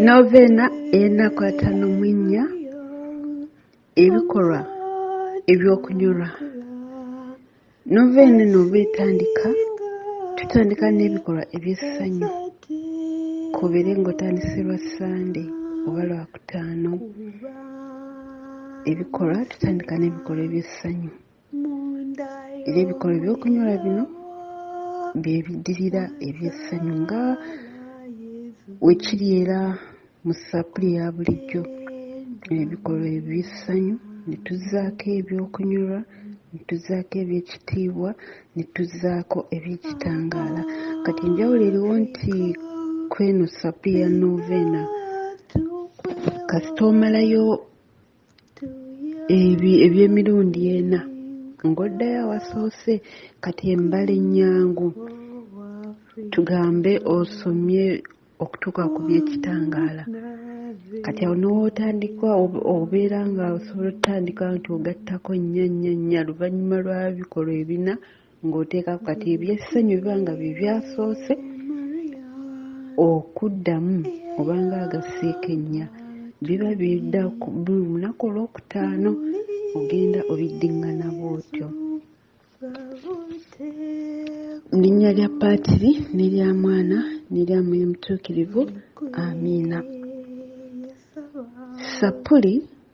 Novena enakwata nomwinnya ebikolwa ebyokunyolwa novena eno bwetandika tutandika n'ebikolwa ebyessanyu kubere ng'otandise lwa ssande oba lwakutaano ebikolwa tutandika n'ebikolwa ebyessanyu era ebikolwa ebyokunyolwa bino bye biddirira eby'essanyu nga wekiri era mu sappuli ya bulijjo ebikolwa eby'essanyu ne tuzzaako ebyokunyolwa ne tuzzaako eby'ekitiibwa ne tuzzaako eby'ekitangaala kati enjawulo eriwo nti kweno sappuli ya novena kasita omalayo ebyo eby'emirundi ena ng'oddayo awasoose kati embala ennyangu tugambe osomye okutuuka ku by'ekitangaala kati awo n'otandika obeera nga osobola otutandika nti ogattako nnyo nnyo nnya luvannyuma lwa bikolwa ebina ng'oteekako kati ebyessanyu biba nga bye byasoose okuddamu obanga agasiika ennya biba bidda buli lunaku olwokutaano ogenda obiddingana bwotyo linnya lya paatiri n'erya mwana n'erya mwoyo mutuukirivu amiina sappuli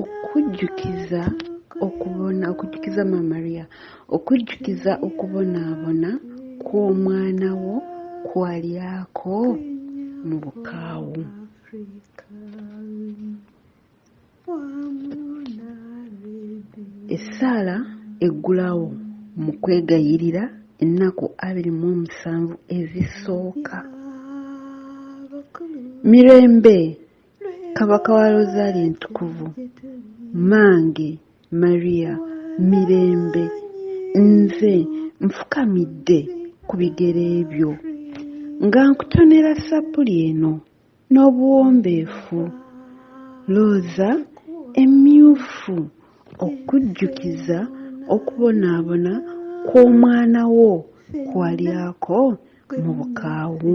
okujjukiza okubona okujjukiza mamariya okujjukiza okubonaabona kw'omwana wo kwalyako mu bukaawu essaala eggulawo mu kwegayirira ennaku abiri mu omusanvu ezisooka mirembe Kabaka wa Rosaali Entukuvu, mmange Maria Mirembe, nze nfukamidde ku bigere byo nga nkutonera sappuli eno n'obuwombeefu looza emmyufu okujjukiza okubonaabona kw'omwana wo kwalyako mu bukaawu.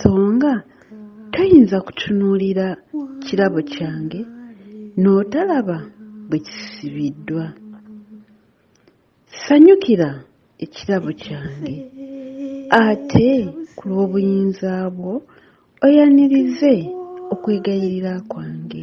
songa toyinza kutunuulira kirabo kyange n'otalaba bwe kisibiddwa sanyukira ekirabo kyange ate ku lw'obuyinza bwo oyanirize okwegayirira kwange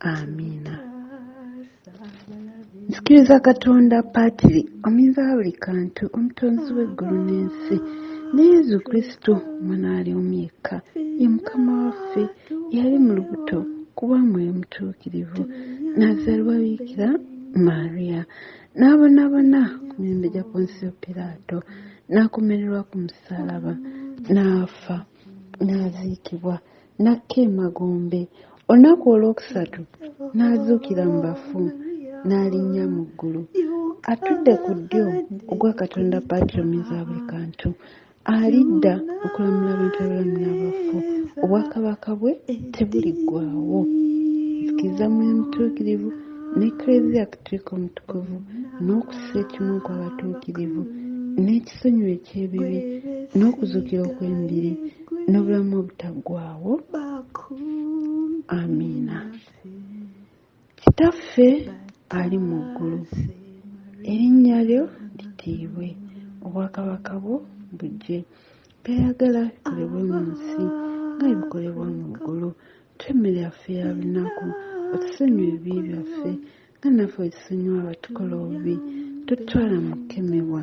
amiina nzikiriza katonda paatiri omuyinza wa buli kantu omutonzi w'eggulu n'ensi ne yezu kristo omwana ali omu yekka ye mukama waffe yali mu lubuto kuba mwoyo mutuukirivu n'azaalibwa bikira maria n'abonabona ku mirembe gya ponsiyo piraato n'akomererwa ku musalaba n'afa n'aziikibwa n'akka emagombe olunaku olwokusatu n'azuukira mu bafu n'alinnya mu ggulu atudde ku ddyo ogwa katonda patromiza buli kantu alidda okulamula abantu abalamu n'abafu obwakabaka bwe tebuliggwawo nzikiriza mu mutuukirivu n'eklezia katulika omutukuvu n'okussa ekimu ku abatuukirivu n'ekisonyiwa eky'ebibi n'okuzuukira okw'embiri n'obulamu obutaggwaawo amiina kitaffe ali mu ggulu erinnya lyo litiibwe obwakabaka bwo bujje byayagala bikolebwe mu nsi nga bikolebwa mu ggulu twemmere yaffe ya lunaku otusonyiwa ebibi byaffe nga naffe otusonyiwa abatukola obubi totwala mu kukemebwa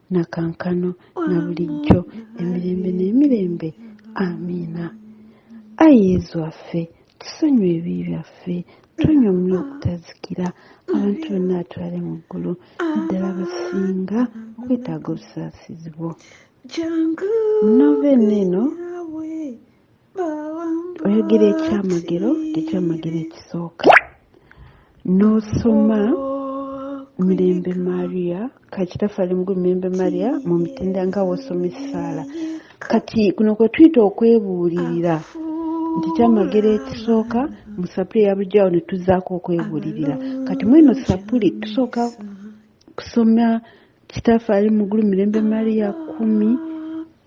na kankano na bulijjo emirembe n'emirembe amiina ayi yezu waffe tusonyiwa ebibi byaffe tonya omuli okutazikira abantu bonna atwale mu ggulu naddala basinga okwetaaga obusaasizi bwo munoveeno eno oyogera ekyamagero tekyamagero ekisooka n'osoma mirembe maria kakitafali mgu mirembe maria mu mitenda nga wosoma essaala kati kuno kwe tuyita okwebuulirira nti kyamagero ekisooka mu sapuli eya bulijjo awo ne tuzaako okwebuulirira kati mweno sapuli tusooka kusoma kitaffe ali mugulu mirembe maria kumi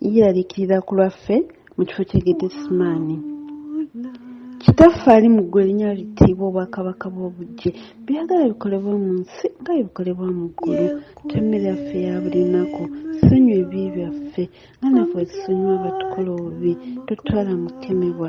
yeeraliikirira ku lwaffe mu kifo kye getesimaani kitaffe ali mu ggwe erinya litiibwa obwakabaka bw'obujje byagala bikolebwa mu nsi nga ebikolebwa mu ggulu temmere yaffe ya buli lunaku sonyiwa ebibi byaffe nga naffe wezisonyiwa abatukola obubi totwala mu kukemebwa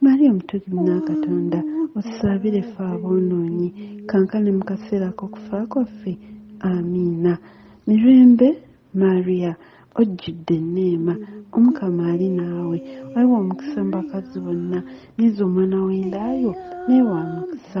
Maria omutugi munakatonda otusabire ffe aboonoonyi kankane mu kaseera k'okufa kwaffe amiina mirembe maria ojjudde enneema omukama ali naawe waliwo omukisa mu bakazi bonna nyiza omwana w'endaayo naye wa mukisa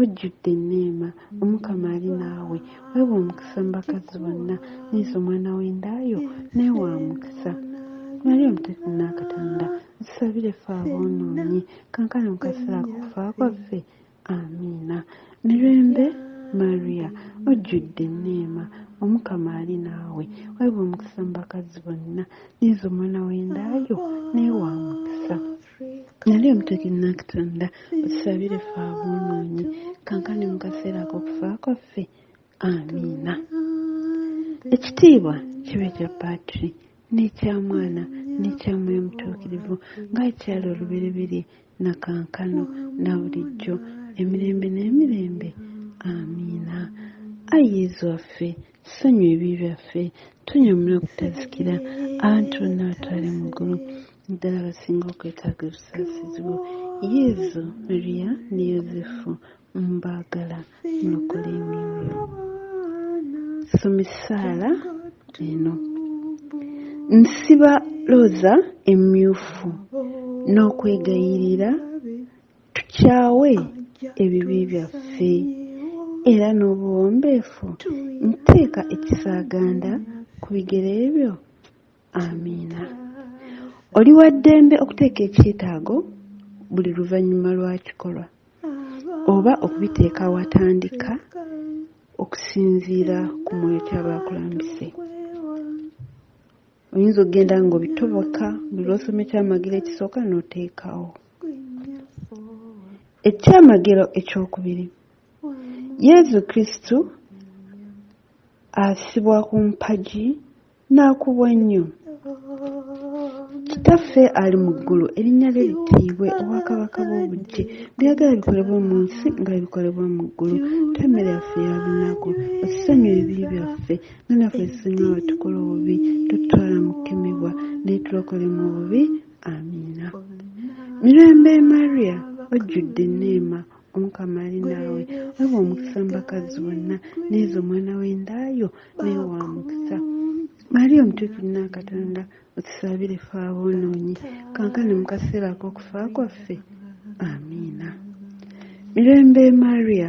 ojjudde enneema omukama ali naawe weewa omukisa mu bakazi bonna neeza omwana w'endaayo naye wa mukisa mali omuteeku n'akatonda zisabire ffe aboonoonyi kankana mu kaseera kufa kwaffe amiina mirembe maria ojjudde enneema omukama ali naawe weewa omukisa mu bakazi bonna neeza omwana w'endaayo naye wa mukisa nali omutuki nakutonda otusabire fe aboonoonyi kankani mu kaseera ak'okufa kwaffe amiina ekitiibwa kibe kya patri n'ekya mwana n'ekya mwoyo mutuukirivu nga ekyali olubereberye na kankano na bulijjo emirembe n'emirembe amiina ayi yezu waffe Senya ebibi byaffe, tunyamule okutazikira, abantu bonna batwale mu ggulu, ddala basinga okwetaaga obusaasizi bwo. Yezu, Mariya ne Yozefu mbaagala mulokole emyoyo. Soma essaala eno. Nsiba looza emmyufu n'okwegayirira Tukyawe ebibi byaffe era n'obuwombeefu nteeka ekisaaganda ku bigere byo. Amiina. Oli wa ddembe okuteeka ekyetaago buli luvannyuma lwa kikolwa oba okubiteeka watandika okusinziira ku mwoyo kyaba akulambise. oyinza okugenda nga obitoboka buli lwosoma ekyamagero ekisooka n'oteekawo ekyamagero ekyokubiri yezu kristu asibwa ku mpagi n'akubwa ennyo kitaffe ali mu ggulu erinnya lye litiibwe obwakabaka bw'obujje byagala bikolebwa mu nsi nga bikolebwa mu ggulu temmere yaffe ya lunaku osisonyiwa ebibi byaffe Mwana ffe singa watukola obubi tutwala mu kukemebwa naye tulokole mu bubi amiina mirembe maria ojjudde enneema omukama ali naawe weba omukisa mubakazi bonna neezo omwana w'endaayo naye wa mukisa maria omutuukiri n'akatonda otusabire fe aboonoonyi kankane mu kaseera ak'okufa kwaffe amiina mirembe maria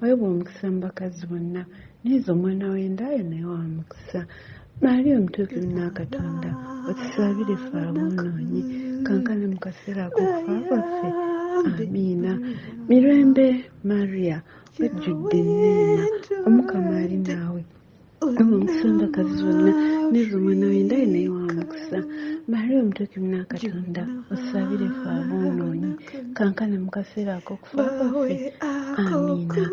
wayebwa omukisa mu bakazi bonna neeza omwana w'endaayo naye wa mukisa maali omutuukiri n'akatonda otusabire fe aboonoonyi kankane mu kaseera ak'okufa kwaffe amiina mirembe maria wajjudde enneema omukama ali naawe omusondakazi zonna nezo mwana wendaye naye wamukisa maria omutuki munakatonda osabire fe abonoonyi kankana mukaseera akokufa kwaffe amiina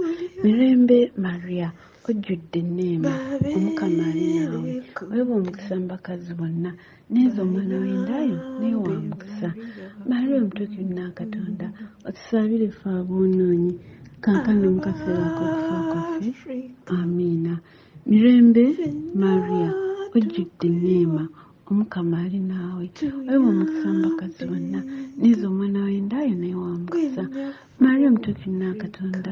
mirembe maria ojjudde enneema omukama ali naawe weba omukisa mubakazi bonna Neza omwana w'endaayo naye wa mukisa. Maria omutuuki nna Katonda, otusabire ffe aboonoonyi, kaakano mu kaseera ak'okufa kwaffe. Amiina. Mirembe, Maria, ojjudde enneema, Omukama ali naawe. Oyo wa mukisa mu bakazi bonna, neza omwana w'endaayo naye wa mukisa. Maria omutuuki nna Katonda,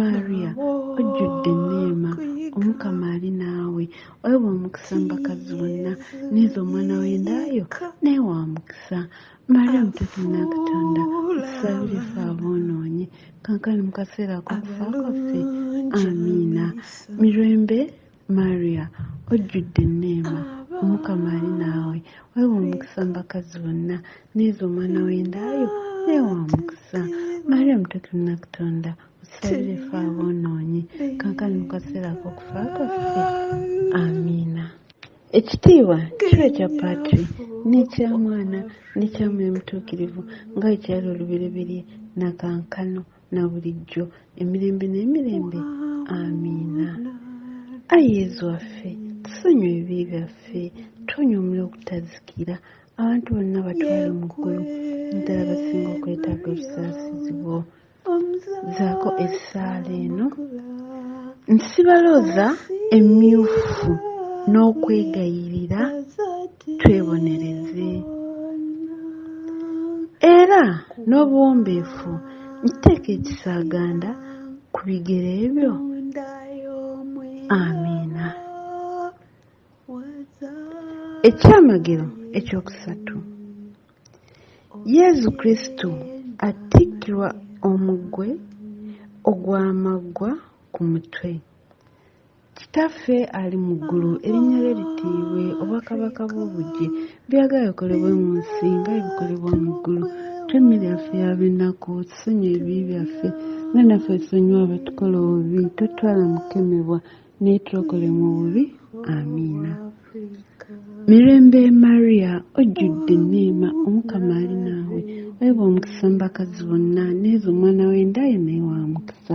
Maria ojjudde enneema omukama ali naawe oweebwa omukisa mu bakazi bonna neeza omwana w'endaayo naye wa mukisa maria omutuufu nakatonda tusabire fe aboonoonyi kankani mu kaseera akokufa kwaffe amiina mirembe Maria ojjudde enneema omukama ali naawe weewa omukisa mu bakazi bonna neeza omwana w'endaayo neewa omukisa maria mutuuki munakutonda otusabire fe aboonoonyi kankani mu kaseera ak'okufa kwaffe amiina ekitiibwa kiba ekya patri n'ekya mwana n'ekya mwoyo mutuukirivu nga bwe kyali olubereberye nakankano na bulijjo emirembe n'emirembe amiina ayi yezu waffe tusonyiwa ebibi byaffe tuwonya omuliro okutazikira abantu bonna batwale mu ggulu naddala basinga okwetaaga obusaasizi bwo zaako essaala eno nsibalooza emmyufu n'okwegayirira twebonereze era n'obuwombeefu nteeka ekisaaganda ku bigere ebyo amiina ekyamagero ekyokusatu yezu kristo attikkirwa omugwe ogw'amaggwa ku mutwe Kitaffe ali mu ggulu erinnya lye litiibwe, obwakabaka bwo bujje, by'oyagala bikolebwe mu nsi nga bwe bikolebwa mu ggulu. Tuwe emmere yaffe ya buli lunaku, tusonyiwe ebibi byaffe nga naffe bwe tusonyiwa abetukola obubi, totutwala mu kukemebwa, naye tulokole mu bubi. Amiina. Mirembe Maria, ojjudde enneema, Omukama ali naawe, weebwa omukisa mu bakazi bonna, n'ezo omwana w'enda ye naye wa mukisa.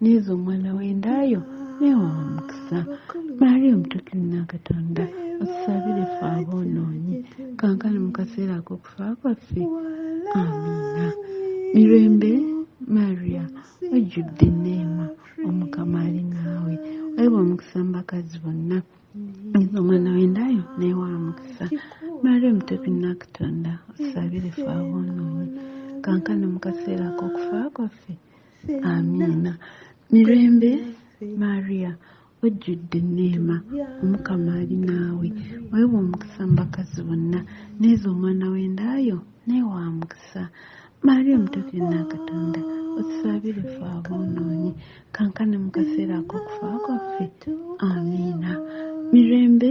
neeza omwana w'endaayo neewa omukisa maali omutukimu nakatonda otusabire fe aboonoonyi kankani mu kaseera ak'okufa kwaffe amiina mirembe maria ojjudde neema omukama ali naawe weebwa omukisa mu bakazi bonna neeza omwana w'endaayo neewa omukisa maali omutukimu nakatonda otusabire fe aboonoonyi kankani mu kaseera ak'okufa kwaffe amiina mirembe maria ojjudde neema omukama ali naawe weewa omukisa mu bakazi bonna neeza omwana w'endaayo naye wa mukisa maria omutuufu yonna katonda otusabire fe aboonoonyi kankane mu kaseera ak'okufa kwaffe amiina mirembe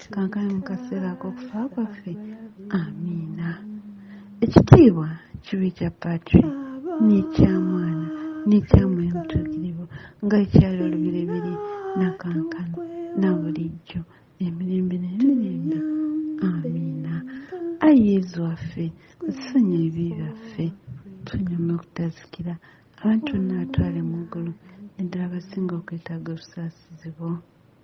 kikankane mu kaseera ak'okufa kwaffe amiina ekitiibwa kibi kya patri n'ekya mwana n'ekya mwoyo mutuukirivu nga ekyali olubiribiri nakankana na bulijjo emirembe n'emirembe amiina ayi yezu waffe nsonyi ebibi byaffe tunyuma okutazikira abantu bonna batwale mu ggulu naddala abasinga okwetaaga obusaasizi bwo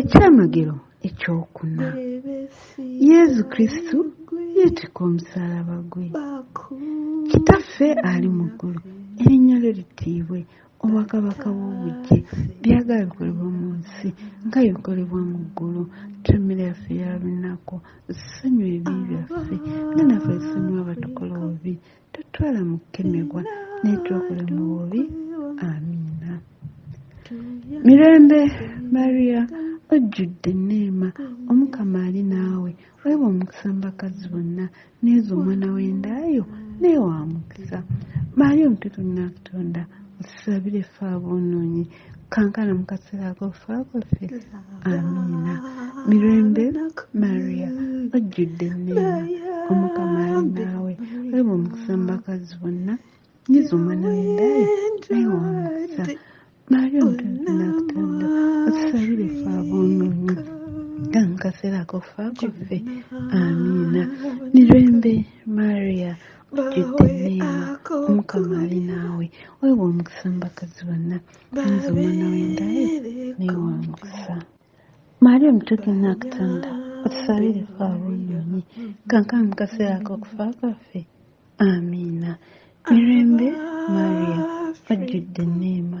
ekyamagero ekyokuna yezu kristu yeetika omusalaba gwe kitaffe ali mu ggulu erinnya lyo litiibwe obwakabaka bw'obujje byagala bikolebwa mu nsi nga bikolebwa mu ggulu tumira yaffe ya lunaku sonyiwa ebibi byaffe nga naffe tusonyiwa abatukola obubi totwala mu kukemebwa naye twakula mu bubi amiina mirembe maria ojjudde neema omukama ali naawe weeba omukisa mu bakazi bonna neeza omwana w'endaayo naye wa mukisa maria omututu nnakutonda osabire ffe aboonoonyi kankana mu kaseera akofaako ffe amiina mirembe maria ojjudde enneema omukama ali naawe olaba omukisa mu bakazi bonna nyiza omwana wendaye naye wamukisa maria omutonzi nakutonda otusabire fe aboononyi nga mu kaseera akofaako ffe amiina mirembe maria tujjudde neema omukama ali naawe weewa omukisa mubakazi bonna nze omwana wendaye naye wa mukisa maali omutuuki nakutanda otusabire fe aboononyi kankana mu kaseera akokufa kwaffe amiina mirembe maria ojjudde neema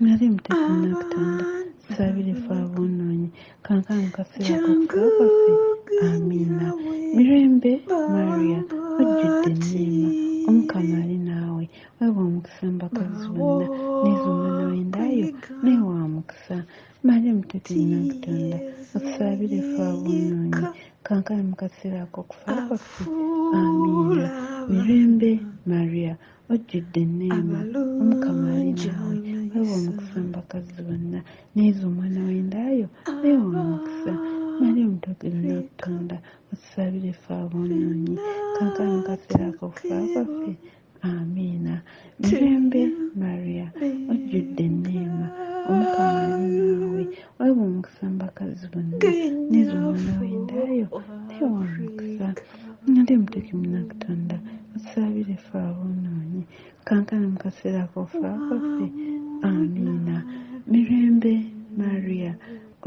nali mutekunakutanda sabire fe abonoonyi kankano kaseera kakufa kwaffe amiina mirembe maria ojjudde enniima omukama ali naawe weebwa omukisa mbakazi bonna neeza omwana w'endaayo naye wa mukisa maria mutekunakutanda otusabire fe abonoonyi kankano mu kaseera akokufa kwaffe amiina mirembe maria ojjudde enneema omukama ali naawe weewa omukisa mu bakazi bonna neeza omwana w'endaayo weewa omukisa mali omutogero n'okutonda otusabire efe aboonoonyi kankano kaseera akokufa kwaffe amiina mirembe maria ojjudde enneema omukama ali naawe weewa omukisa mu bakazi bonna neeza omwana w'endaayo weewa omukisa Nali muteki munakutonda tusabire fe abonoonyi kankana mu kaseera akofa kwaffe amiina mirembe maria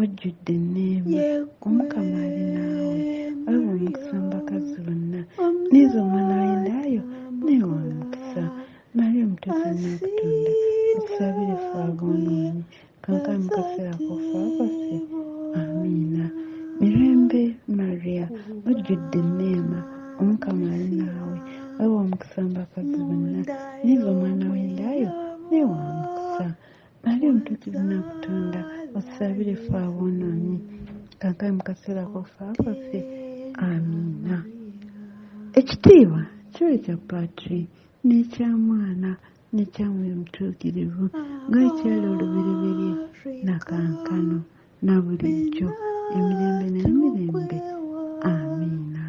ojjudde enneema omukama ali naawe olaba omukisa mu bakazi bonna neeza omwana w'endaayo naye wa mukisa maria omutuufu munakutonda tusabire fe abonoonyi Kankan mukasera kufa kwaffe. Amiina. Mirembe Maria ojjudde neema omukama ali naawe wewa omukisa mbakazi bonna niva omwana w'endaayo naye wa mukisa ali omutuukivu nakutunda osabire fe aboonoonyi kankae mu kaseera kofa kwaffe amiina ekitiibwa kiwe kya patri n'ekya mwana ne kyamwe omutuukirivu nga ekyali olubereberye na kankano na bulijjo emirembe n'emirembe amiina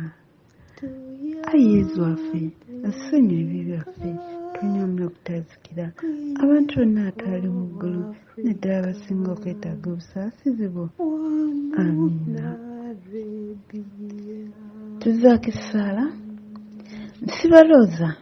ayi yezu waffe asonyiwa ebibi byaffe tunyamula okutazikira abantu bonna atwali mu ggulu naddala abasinga okwetaaga obusaasizi bwo amiina tuzaako essaala nsibalooza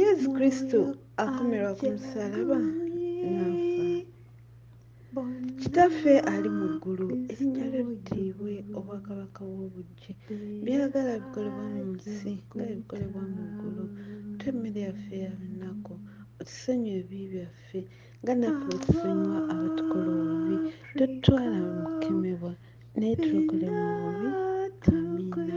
yesu kristo akomerwa ku musalaba nafa kitaffe ali mu ggulu erinnya lyo litiibwe obwakabaka bw'obujje byagala bikolebwa mu nsi nga ebikolebwa mu ggulu twemmere yaffe ya lunaku otusonyiwa ebibi byaffe nga naffe otusonyiwa abatukola obubi totutwala mu kukemebwa naye tulokole mu bubi amiina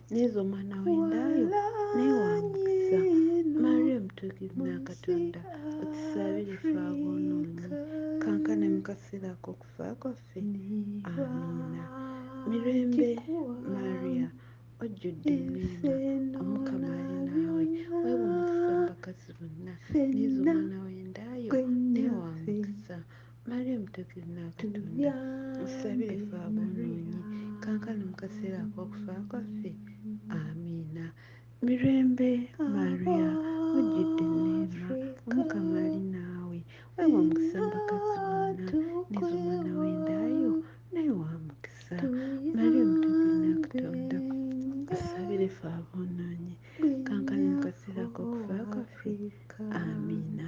nezo omwana wendayo naye wamukisa maria omutuukirimu ya katonda otusabire fe aboonoonyi kankane mu kaseera ak'okufa kwaffe amiina mirembe maria ojjudde emiina omukama ali naawe weewa omukisa mu bakazi bonna nezo omwana wendayo naye wamukisa Mariam Tokirina Katonda tusabire ffe aboonoonyi kankano mu kaseera ak'okufa kwaffe amiina mirembe maria mujjudde neema omukama ali naawe wewa omukisa mbakazi bonna nezomwana wendaayo naye wa mukisa mariam Tokirina Katonda tusabire ffe aboonoonyi kankano mu kaseera ak'okufa kwaffe amiina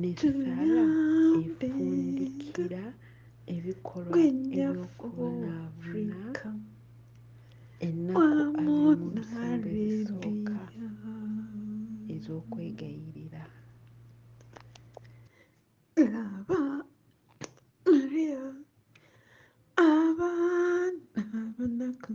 nesala efundikira ebikolwa ebyokubonaabona ennaku azimusooka ez'okwegayirira laba maria abaana abanaku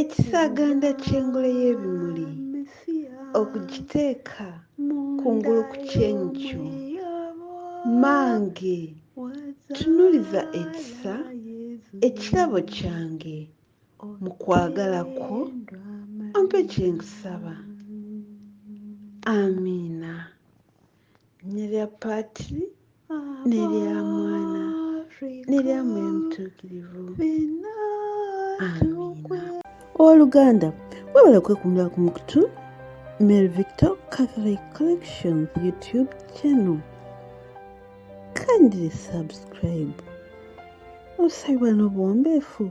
Ekisaganda ky'engule y'ebimuli okugiteeka kungulu ku kyenkyo mange tunuliza ekisa ekirabo kyange mu kwagala kwo ompe kye nkusaba amiina nelya paati nelya mwana nelya mwoyo mutuukirivu owoluganda webale kwekumira ku mukutu mary victor catholic collections youtube channel kindly subscribe osabibwa n'obuwombeefu